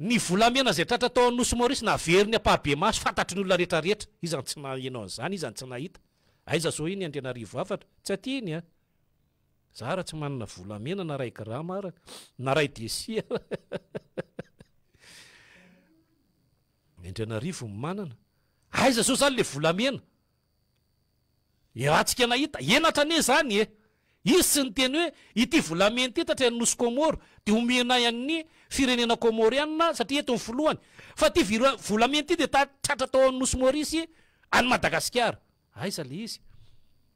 Ny volamena izay tratra tao Anosy Maurice naveriny ampahibemaso fantatry ny olona rehetra rehetra. Iza no tsy naheno an'izany? Iza no tsy nahita? Aiza zao iny Andrianarivo Hafatra? Tsy aty iny an! Za ara tsy manana volamena na ray grama ara, na ray desi ara. Ny Andrianarivo no manana. Aiza zao zany le volamena? Ny raha tsika nahita, henatra anie zany e! Izy tsy niteny hoe ity volamena ity tatry ny nosy Kômôro dia homenay an'ny firenena Kômôriana satria eto ny filohany, fa ity vira volamena ity dia ta tratra tao amin'ny nosy Maurice any Madagasikara. Aiza le izy?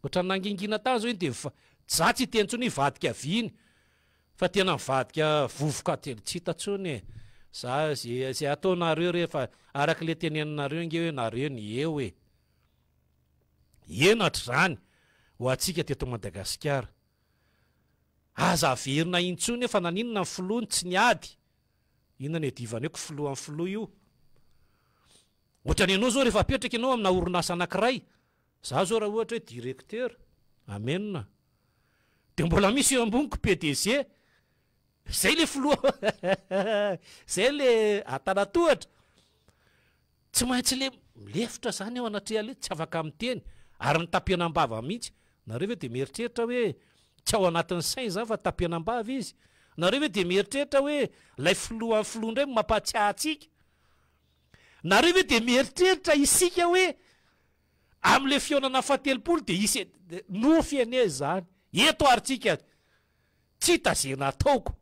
Ohatran'ny nangingina tany zao iny dia mifa za tsy hiteny tsony hivadika viny fa tena mivadika vovoka de tsy hita tsony e! Za ze ze ataonareo rehefa araka le teneninareo nge hoe nareo ny eo e! henatra izany ho antsika teto Madagasikara. Aza averina intsony hoe fa naninona ny filoha no tsy niady, inona no iadivany eo ko filohan'ny filoha io? Ohatrany ianao izao rehefa apetraka ianao amina orinasa anankiray, izaho izao raha ohatra hoe directeur, amen a! dia mbola misy eo amboniko PDG, izay ilay filoha, izay ilay antanatohatra, Tsy maintsy le milefitra zany eo anatreha le tsy afaka miteny ary ny tapenambava mihitsy, nareo ve de mieritreritra hoe tsy ao anatin'ny sainy izany fa tapenambava izy? Nareo ve de mieritreritra hoe lay filoha an'ny filoha indray mampahatsiahy antsika? Nareo ve de mieritreritra isika hoe amle fihaonana fahatelopolo de hisy nofy anie izany eto ary tsika tsy hita ze nataoko.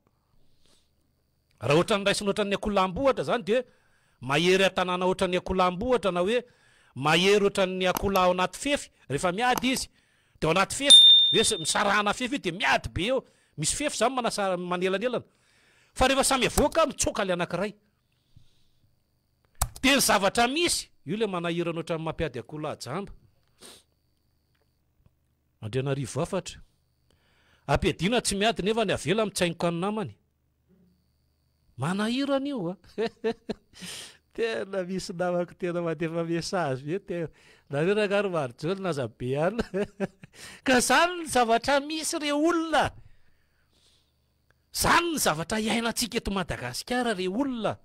Raha ohatran'ny raisina ohatran'ny akoholahambo ohatra izany dia mahery an-tanàna ohatran'ny akoholahambo ohatra na hoe mahery ohatran'ny akoholahy ao anaty fefy rehefa miady izy dia ao anaty fefy hoe misarahana fefy io dia miady be eo misy fefy izany manasa manelanelana fa rehefa samy avoaka mitsoaka ilay anankiray dia ny zavatra misy io ilay manahirana ohatran'ny mampiady akoholahy jamba Andrianarivo Hafatra ampiadiana tsy miady nefa ny avela mitsaingoka ny namany Manahira an'io a! Tena misy namako tena mandefa message be tena, nareo rangah ry Marijolina aza be an! Ka zany ny zavatra misy re olona! Zany ny zavatra iainantsika eto Madagasikara re olona!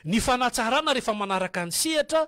Ny fanatsarana rehefa manaraka ny sehatra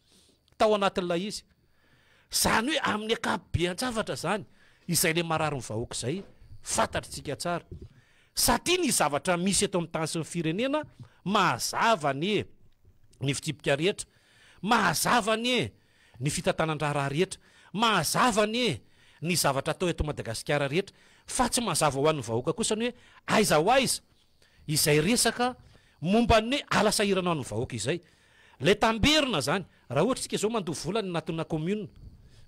tao anatin'ilay izy. Izany hoe amin'ny ankapobean-javatra izany, izay ilay marary ny vahoaka izay fantatritsika tsara. Satria ny zavatra misy eto amin'ny tany sy ny firenena mahazava anie ny fitsipika rehetra, mahazava anie ny fitantanan-draharaha rehetra, mahazava anie ny zavatra atao eto Madagasikara rehetra, fa tsy mazava ho an'ny vahoaka kosa ny hoe aiza ho aiza izay resaka momba ny hoe ala sahirana ho an'ny vahoaka izay. Ilay tamberina izany, raha ohatra isika izao mandoa vola any anatina kaominina,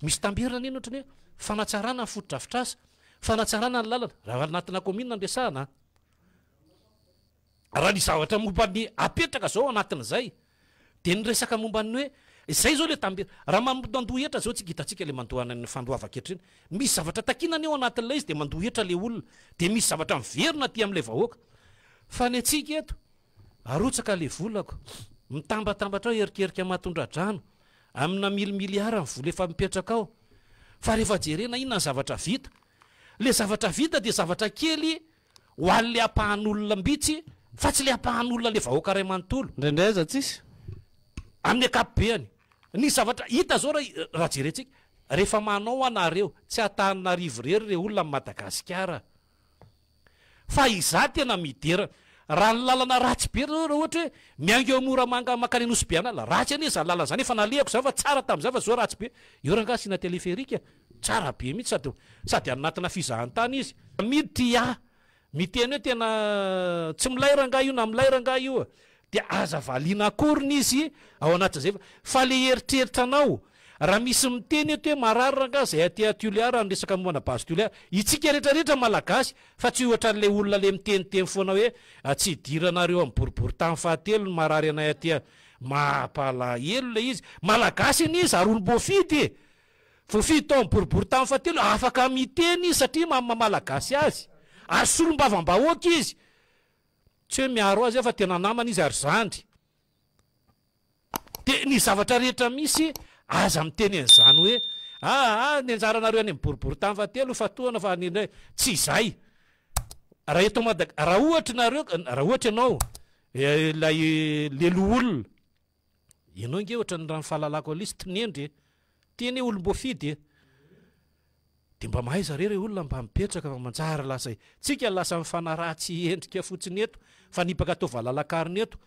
misy tamberina anie ny ohatran'ny hoe fanatsarana ny fotodrafitrasa, fanatsarana ny lalana, raha anatina kaominina no resahana an! Raha ny zavatra momba ny apetraka izao anatin'izay, Dia niresaka momba ny hoe, izay izao ilay tambira. Raha mandohandoha hetra izao tsika, hitantsika ilay mandohana ny fandoavan-ketra iny. Misy zavatra takiana anie ao anatin'ilay izy dia mandoha hetra ilay olona. Dia misy zavatra miverina aty amin'ilay vahoaka. Fa ny antsika eto, arotsaka ilay volako, mitambatambatra ao erikerika mahatondradrano, amina milimiliara ny vola efa mipetraka ao. Fa rehefa jerena inona ny zavatra vita? Ilay zavatra vita dia zavatra kely. Ho any le ampahan olona mbitsy fa tsy le ampahan olona le vahoaka ray manontolo. Indraindray aza tsisy. Amin'ny akapobeany. Ny zavatra hita zao raha jerentsika. Rehefa manao anareo. Tsy Antananarivo irery re olona am Madagasikara. Fa izaho tena midera. Raha ny lalana ratsy be zao raha ohatra hoe miainga eo Moramanga mankany Anosibeanala. Ratsy anie zany lalana zany. Efa nalehako zany fa tsara tamin'izay fa zao ratsy be. Eo rangahy asiana téléphérique. Tsara be mihitsy sady sady any anatina fizahantany izy. Midea miteny hoe tena tsy milay rangahy io na milay rangahy io dia aza valiana akoriny izy ao anatin'izay fa fa le eritreritra anao raha misy miteny eto hoe marary rangahy zay aty a Toliara any resaka momba ana base Toliara itsika rehetra rehetra malagasy fa tsy ohatran'ilay olona le miteniteny foana hoe tsy hidiranareo amin'ny boriboritany fahatelo ny marary anay aty a mahapalahelo le izy malagasy anie izy ary olom-boafidy e Voafidy tao amin'ny boriborintany fahatelo, afaka miteny izy satria mamy maha-malagasy azy, ary solombavambahoaka izy, tsy hoe miaro azy aho fa tena namana izy ary zandry, dia ny zavatra rehetra misy aza miteny an'izany hoe aa ny anjaranareo any amin'ny boriborintany fahatelo fatohana fa ny tsy izay raha eto Madag- raha ohatra ianareo, raha ohatra ianao ilay le loholona. Ianao nge ohatran'ny raha ny fahalalako Alice tinendry e! Ty anie olom-boafidy e! Dia mba mahaiza re re olona mba mipetraka fa manjary lasa e! Tsika lasa mifanaratsy endrika fotsiny eto, mifanipaka atao valalakarona eto.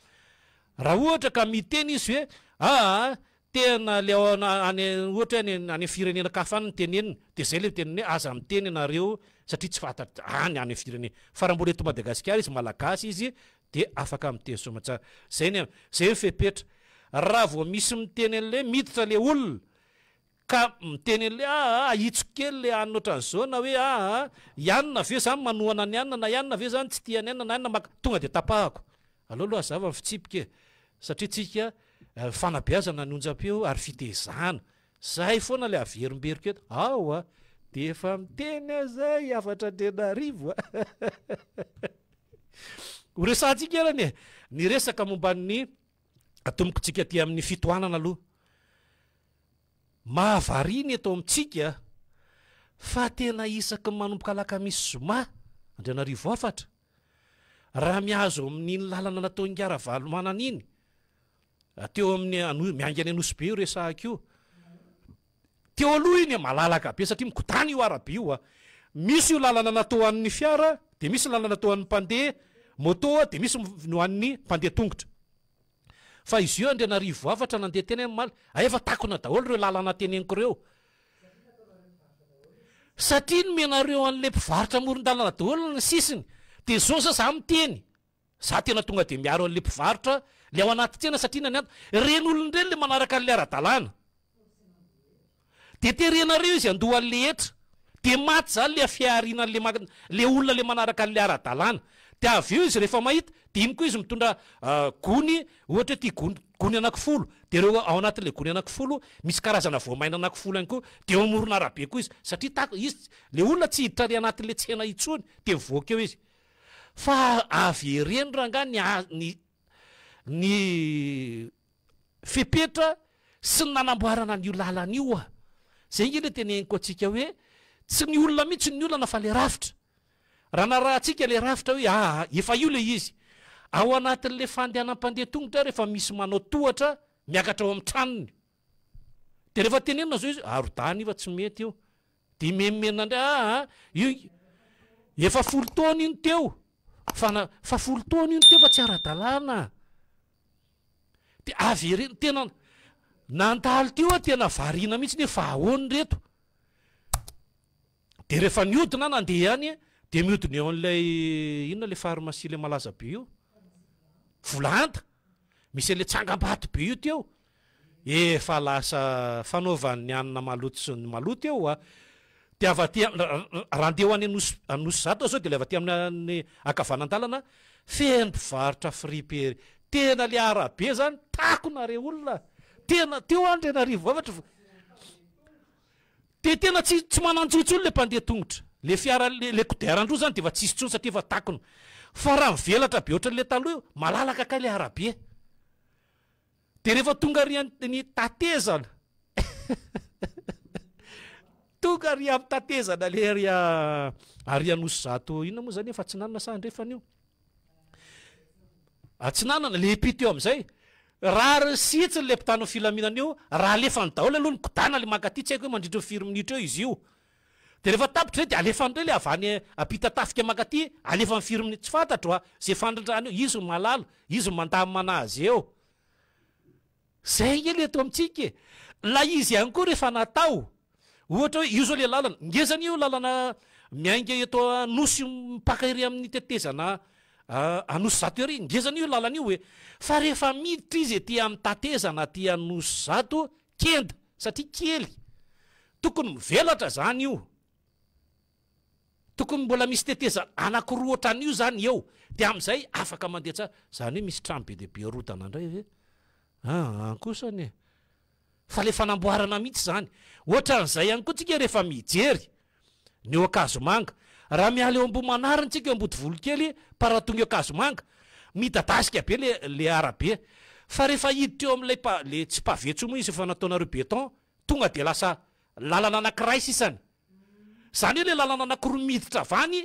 Raha ohatra ka miteny izy hoe aa tena le ao any ohatra hoe any any amin'ny firenenankafa any no teneniny dia zay le teneniny hoe aza miteny ianareo satria tsy fantatra any any amin'ny firenena fa raha mbola eto Madagasikara izy malagasy izy Dia afaka miteny soamatsara. Zay ny an. Zay ny fepetra. Raha vao misy miteny an'le miditra le olona ka miteny an'le aa ahitsiko kely le anona otran'zao na hoe aa i anona ve zany manohana an'i anona na i anona ve zany tsy tia an'i anona na i anona maka tonga dia tapahako. Aleo aloha hazava ny fitsipika e. Satria tsika fanabeazana ny onjam-peo ary fitezana. Zahay foana le averimberiko eto ao a! de efa miteny aza i Hafatra Andrianarivo a! Ho resahantsika eran e! Ny resaka momba ny tombokontsika aty amin'ny fitohanana aloha. Mahavariana eto amintsika fa tena isaky ny manomboka alakamisy zoma Andrianarivo Hafatra, raha mihazo amin'iny lalana nataon'i Ngah Ravalomanana iny, Raha teo amin'ny ano- miainga any Anosibe io resahako io, teo aloha iny a, malalaka be satria migodàna io arabe io a. Misy io lalana natao ho an'ny fiara, dia misy ny lalana natao ho an'ny mpandeha môtô, dia misy ny ho an'ny mpandeha tongotra. Fa izy io Andrianarivo Afatra nandeha teny amin'ny Maly, hay efa takona daholo ireo lalana teneniko ireo. Satria nomenareo an'ilay mpivarotra amoron-dalana daholo ny sisiny, dia izao zao za miteny. Za tena tonga de miaro anle mpivarotra le ao anaty tsena satria na ny antony, ireny olona ireny le manaraka anle ara-dalàna de terenareo izy handoa anle hetra de maty zany le fiahariana anle ma- le olona le manaraka anle ara-dalàna de avy eo izy refa mahita de iny koa izy mitondra gony ohatra hoe ty gony gony anaky folo de reo ao anatinle gony anaky folo misy karazana voamaina anaky folo ihany koa de eo amoron'arabe koa izy satria tak- izy ts- le olona tsy hiditra ary anatinle tsena intsony de mivoaka eo izy Fa avereno rangahy ny ny ny fepetra sy ny nanamboarana an'io lalana io a! Zay nge le teneniko antsika hoe tsy ny olona mihitsy ny olana fa le rafitra. Raha narahantsika le rafitra hoe aa efa io le izy. Ao anatin'le fandehanan'ny mpandeha tongotra ary efa misy manao tohatra miakatra ao amin'ny tranony. De rehefa tenenina zao izy arodany io fa tsy mety io. Dia miha-miha an-dry aa a! Io efa folo taona io no teo fa na fa folo taona io no teo fa tsy ara-dalàna a! Dia avereno tena nandalo teo aho tena variana mihitsy ny hoe fa ahoana ry reto? Dia rehefa nihodina aho nandeha ihany dia mihodina eo amin'ilay inona ilay pharmacie ilay malaza be io? Volahanta! Misy an'ilay tsangambato be io teo. Efa lasa fanaovan'ny hanina maloto sy ny maloto eo a! Dia avy aty raha handeha ho any Anosy Anosizato zao dia ilay avy aty amin'ny ankavanandalana feno mpivarotra friperie, tena ilay arabe zany takona re olona a! Tena teo Andrianarivo Avatra dia tena tsy tsy manan-jo intsony ilay mpandeha tongotra, ilay fiara ilay kodiaran-droa zany dia efa tsisy intsony satria efa takona, fa raha mivelatra be ohatran'ilay taloha io malalaka kay ilay arabe. Dia rehefa tonga ary ny tatezana tonga ary amin'ny tatezana le ary ary anosy zato inona moa zany efa atsinanana sa andrefana io atsinanana le epite eo amin'izay raha ry sitsiny le mpitano filaminana io raha alefany daholo aloha ny kodana le mankaty tsy haiko hoe mandritra ny firy minitra eo izy io Dia rehefa tapitra izay dia alefa indray ilay avy any ampita tafika mankaty alefa amin'ny firminy tsy fantatro a izay fandrindrany eo izy no mahalala izy no mandamana azy eo izay nge ilay eto amintsika e ilay izy ihany koa rehefa natao ohatra hoe io izao ilay lalana ngeza anie io lalana miainga eto anosy mipaka ery amin'ny tetezana anosizato ery ngeza anie io lalana io e fa rehefa miditra izy ety amin'ny tatezana aty anosizato Kenda satria kely. Tokony mivelatra zany io. Tokony mbola misy tetezana anakiroa otran'io zany eo de amizay afaka mandeha tsara. Zany hoe misy trano be dia be arodana ndray ve? Aa kosa anie. Fa le fanamboarana mitsy zany. Otran'izay ihany koa tsika refa mijery. Ny eo Ankazomanga. Raha miala eo Ambohimanarin tsika eo Ambodivolokely par rapport ny eo Ankazomanga, midadasika be le le arabe. Fa rehefa hiditra eo amin'ilay pa le tsy pavé tsony moa izy efa nataonareo béton tonga dia lasa lalana anakiray sisany. Zany hoe le lalana anakiroa miditra avy any.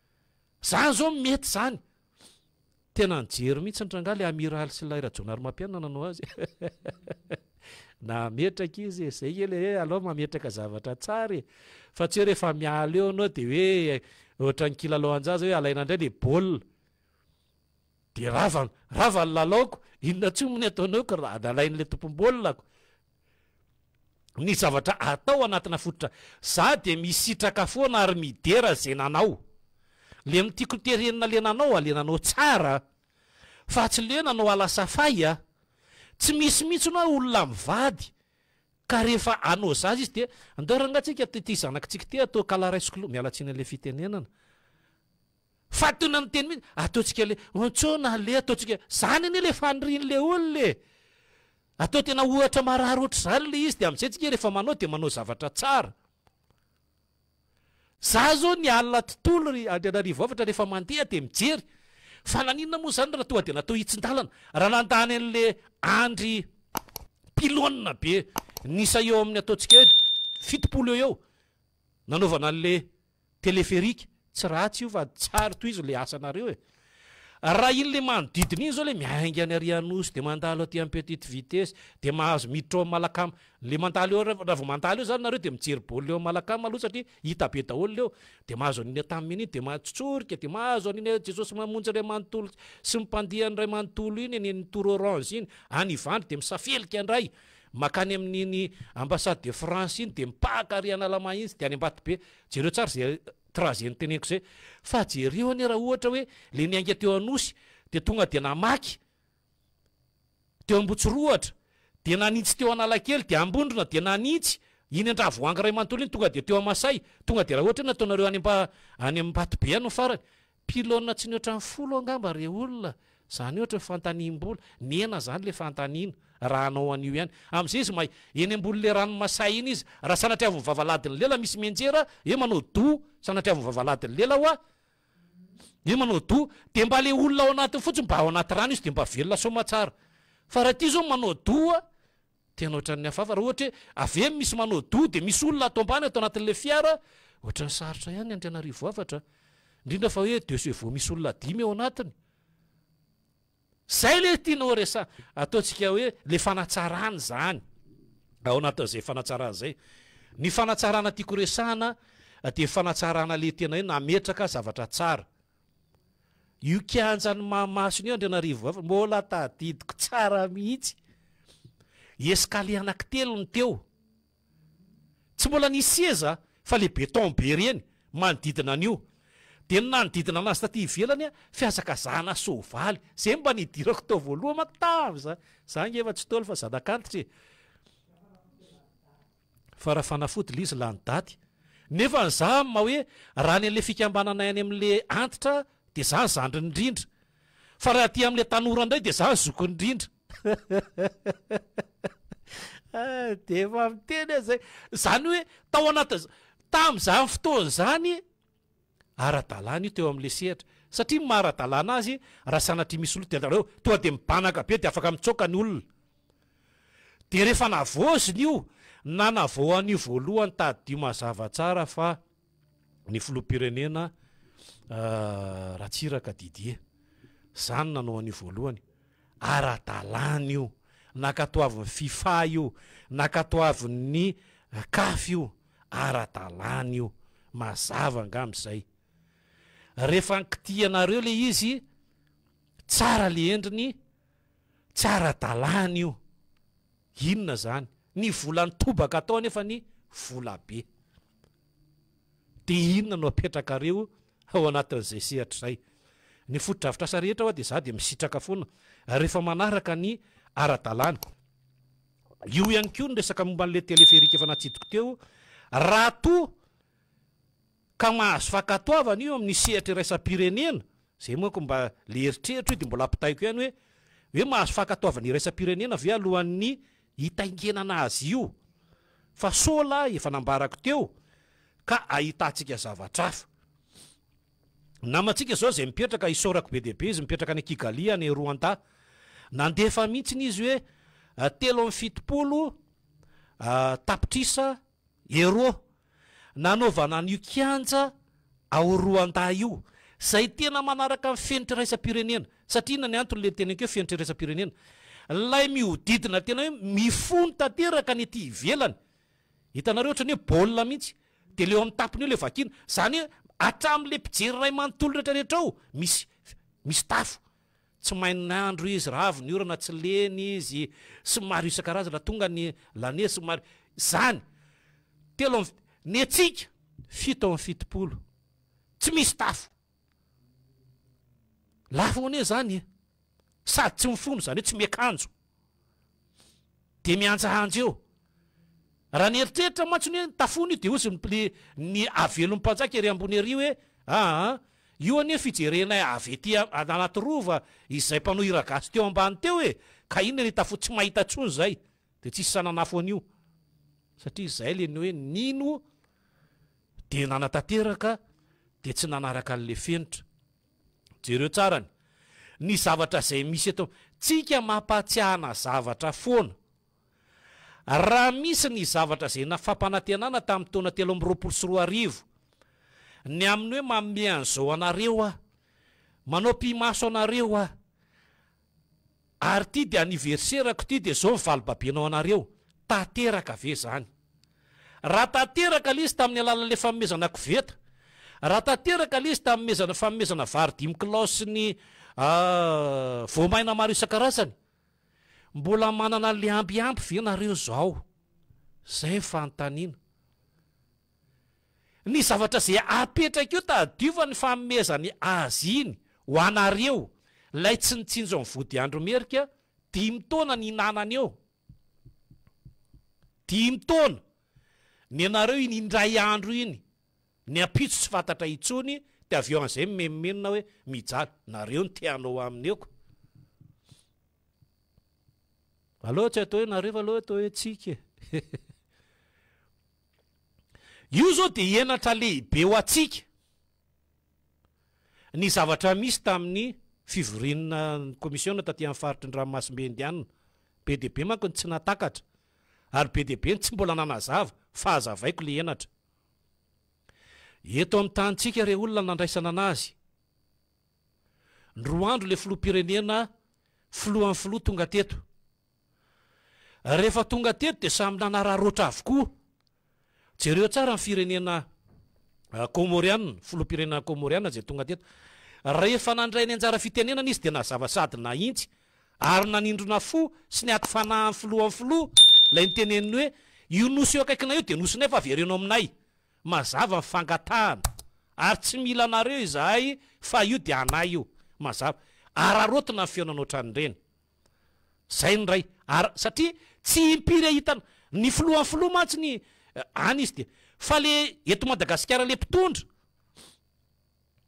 Zany zao no mety zany. Tena nijery mihitsy ny rangahy le amiraly sy ilay rajaonarimampianina nanao azy na ametraka izy e zay kely e alao mametraka zavatra tsara e fa tsy hoe rehefa miala eo anao de hoe ohatran'ny kilalaoanjaza hoe alaina indray le baolina Dia rava rava ny lalaoko, inona tsoa moa ny ataonao ko raha nalain'ilay tompom-baolina-ko ny zavatra atao anatina fototra, za dia misitraka foana ary midera ze nanao le mi tiko terenina le nanao a, le nanao tsara a, fa tsy le nanao à la safay a, tsy misy mihitsy ny hoe olona mivady ka rehefa anao zaza izy dia andao rangah tsika ty zanaky tsika ty atao kala raisiko lo, miala tsiny an'le fitenenana. Fa toy na miteny mihitsy, ataontsika le, ontsoina le, ataontsika, zany anie le faniriany le olona e! Atao tena ohatra marary ohatr'izany le izy dia amizay tsika rehefa manao dia manao zavatra tsara. Za zao ny alina tontolo ry Andrianarivo Avatra rehefa mandeha dia mijery fa naninona moa zany raha tonga dia natao hitsin-dalana raha nandany an'le andry pylone be nisa eo amin'ny ataontsika hoe fitopolo eo eo. nanaovana anle téléphérique tsy ratsy io fa tsary tohizo le asanareo e! raha iny le manodidina iny zao le miainga any ary anosy de mandalo aty am petite vitesse de mahazo miditra ao am malacam le mandalo eo raha vao mandalo eo zany nareo de mijery baolina eo am malacam aloha satria hita be daholo leo de mahazo aniny atam iny de matsotsorika de mahazo aniny a jesosy mamonjy ray manontolo sy ny mpandiany ray manontolo iny eny am tour orange iny any ivandry de misafelika ndray Makany amin iny ambassade de France iny de mipahaka ary analama iny sy de any ambatobe, jereo tsara ze trajet niteneniko zay, fa jereo anie raha ohatra hoe le niainga teo anosy de tonga de namaky teo ambotsirohatra de nanitsy teo analakely de ambondrona de nanitsy iny andravoahangy ray manontolo iny tonga de teo amasay tonga de raha ohatra hoe nataonareo any any ambatobe any farany Pylone tsy ny ohatran'ny folo angamba re olona, zany ohatra hoe fantanihim-bola, nihena zany le fantanihina, raha hanao an'io ihany, amzay izy may, eny ambony le rano masay iny izy, raha sanatria avy mivava alahady ny lela misy mianjera hoe manao doux, sanatria avy mivava alahady ny lela hoa, hoe manao doux, de mba le olona ao anatiny fotsiny mba ao anaty rano izy de mba velona soamatsara, fa raha ty zao manao doux Tena ohatran'ny hafahafa raha ohatra hoe avy eny misy manao doha dia misy olona ato ambany ato anatin'ilay fiara, ohatran'ny sarotra ihany ny Andrianarivo Avatra a! indrindra fa hoe deux chevaux misy olona dimy ao anatiny. Zay le tiana ho resaha, ataontsika hoe le fanatsarana zany, ao anatin'izay fanatsarana zay. Ny fanatsarana tiako resahana dia fanatsarana le tena hoe nametraka zavatra tsara, Io kianjan'ny mahamasina io Andrianarivo Vafa mbola tadidiko tsara mihitsy. Escalier anankitelo no teo. Tsy mbola nisy seza fa ilay beton be ireny manodidina an'io. Dia ny nanodidina anazy taty ivelany fihazakazahana soavaly. Izay no mba nidirako tao voalohany manko tamin'izany. Izaho ange efa tsy Ntaolo fa zanak'antitra e! fa raha fanafody liz lany daty nefa ny za ma hoe raha any anle fikambananay any amle antitra de za zandriny indrindra fa raha aty amle tanora indray de za zokiny indrindra de efa miteny aza zany hoe tao anaty tam zany fotoana zany Ara-dalàna io teo amin'ilay sehatra satria maha ara-dalàna azy raha sanatria misy loto dia alalao tonga dia mibanaka be dia afaka mitsoaka ny olona. Dia rehefa navaozina io na navaohana io voalohany tadidio mazava tsara fa ny filoham-pirenena Ratsiraka Didier izany nanao an'io voalohany. Ara-dalàna io, nankatoavin'ny fifa io, nankatoavin'ny caf io. Ara-dalàna io, mazava angamba izay. Rehefa ankitihanareo ilay izy, tsara ilay endriny, tsy ara-dalàna io. Inona izany? Ny volan'ny tobaka atao anefa ny volabe. Dia inona no apetrakareo ao anatin'izay sehatra izay? Ny fotodrafitrasa rehetra ho'a dia izaho dia misitraka foana rehefa manaraka ny ara-dalàna. Io ihany koa ny resaka momba an'ilay téléphérique efa natsidiko teo, raha toa ka mahazo fankatoavana io amin'ny sehatra iraisam-pirenena, izay manko mba ilay eritreritro io dia mbola ampitaiko ihany hoe, hoe mahazo fankatoavana iraisam-pirenena ve alohan'ny hitaingenana azy io? fa sola efa nambarako teo ka ahitantsika zavatra hafa. Namantsika izao izay mipetraka, isaorako be dia be izy, mipetraka any Kigali any Roanta. Nandefa mihitsiny izy hoe telo amby fitopolo tapitrisa euro nanaovana an'io kianja ao Roanta io, izay tena manaraka ny fenitra iraisam-pirenena. Satria inona ny antony ilay niteneniko hoe fenitra iraisam-pirenena? Ilay mihodidina tena hoe mifono tanteraka ny ety ivelany. Hitanareo ohatran'ny hoe baolina mihitsy. Dia leo amin'ny tapony eo ilay vakiana. Izany hoe hatramin'ilay mpijery iray manontolo rehetra rehetra ao misy misy tafo. Tsy main'andro izy raha avy ny orana tsy lena izy sy ny maro isan-karazany raha tonga ny l'année sy ny maro izany. Telo amby ny hetsika fito amby fitopolo tsy misy tafo. Lafo anie izany e! Sady tsy mifono, izany hoe tsy miakanjo, dia mihanjahanja eo. Raha ny eritreritra mantsy ny hoe ny tafoana io dia hozy ny le ny havelon'ny mpanjaka ery ambony ery hoe aa io anie fijerenay avy ety Anatirova izay mpanohira gasy teo ambany teo e! Ka inona ny tafoa tsy mahita intsony izay. Dia tsisy sahy nanafo an'io satria izay ilay ny hoe nino dia nanatanteraka dia tsy nanaraka an'ilay fenitra. Jereo tsara ny ny zavatra izay misy eto amintsika mampahatsiahana zavatra foana. Raha misy ny zavatra izay na fampanantenana tamin'ny taona telo amby roapolo sy roa arivo, ny amin'ny hoe manome an'izao anareo aho, manao pimaso anareo aho, Ary ty de anniversaire ko ty de zao ny valo babenao anareo, tanteraka ve zany? Raha tanteraka le izy tamin'ny alalan'ilay fanomezana koveta, raha tanteraka le izy tamin'ny fanomezana vary dimy kilao sy ny voamaina maro isan-karazany, mbola manana an'ilay ambiamby ve nareo zao? Zay ny fanontaniana. Ny zavatra izay apetraka eo tadiova ny fanomezany azy iny ho anareo lay tsy nitsinjo ny vodiandro merika dimy taona nihinanana eo dimy taona ny anareo iny indray andro iny ny ampitso tsy fantatra intsony dia avy eo an'izay mimenomenona hoe mijaly nareo ny teanao aminy eo ko aleo tsy atao hoe nareo fa aleo atao hoe tsika e Io izao dia henatra lehibe ho antsika ny zavatra misy tamin'ny fivoriana ny komisiona taty amin'ny faritry ny ranomasimbe indiana. Be dia be manko ny tsy nahatakatra ary be dia be ny tsy mbola nanazava fa hazavaiko ilay henatra. Eto amin'ny tanintsika re olona nandraisana an'azy. Ny roa andro ilay filoham-pirenena filohan'ny filoha tonga teto. Rehefa tonga teto dia samy nanararaotra avokoa. Jereo tsara ny firenena Kômôriana, filoham-pirenena Kômôriana izay tonga teto. Rehefa nandray ny anjara fitenenana izy dia nazava sady nahitsy ary nanindrona fo sy niato fanahy ny filohan'ny filoha ilay niteneniny hoe, Io nosy eo akaikinay io dia nosinay fa avereno aminay. Mazava ny fangatahana ary tsy mila anareo izahay fa io dia anay io. Mazava. Araraotina ny fihaonana ohatran'ireny. Zay ny ray ar satria tsy impiry ahitana ny filohan'ny filoha mantsy ny any izy dia fa le eto Madagasikara le mpitondra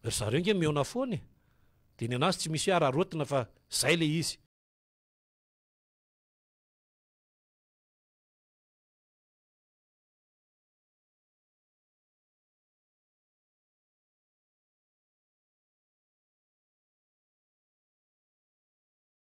ry zareo nge mihaona foana e dia ny anazy tsy misy hoe araraotina fa zay le izy.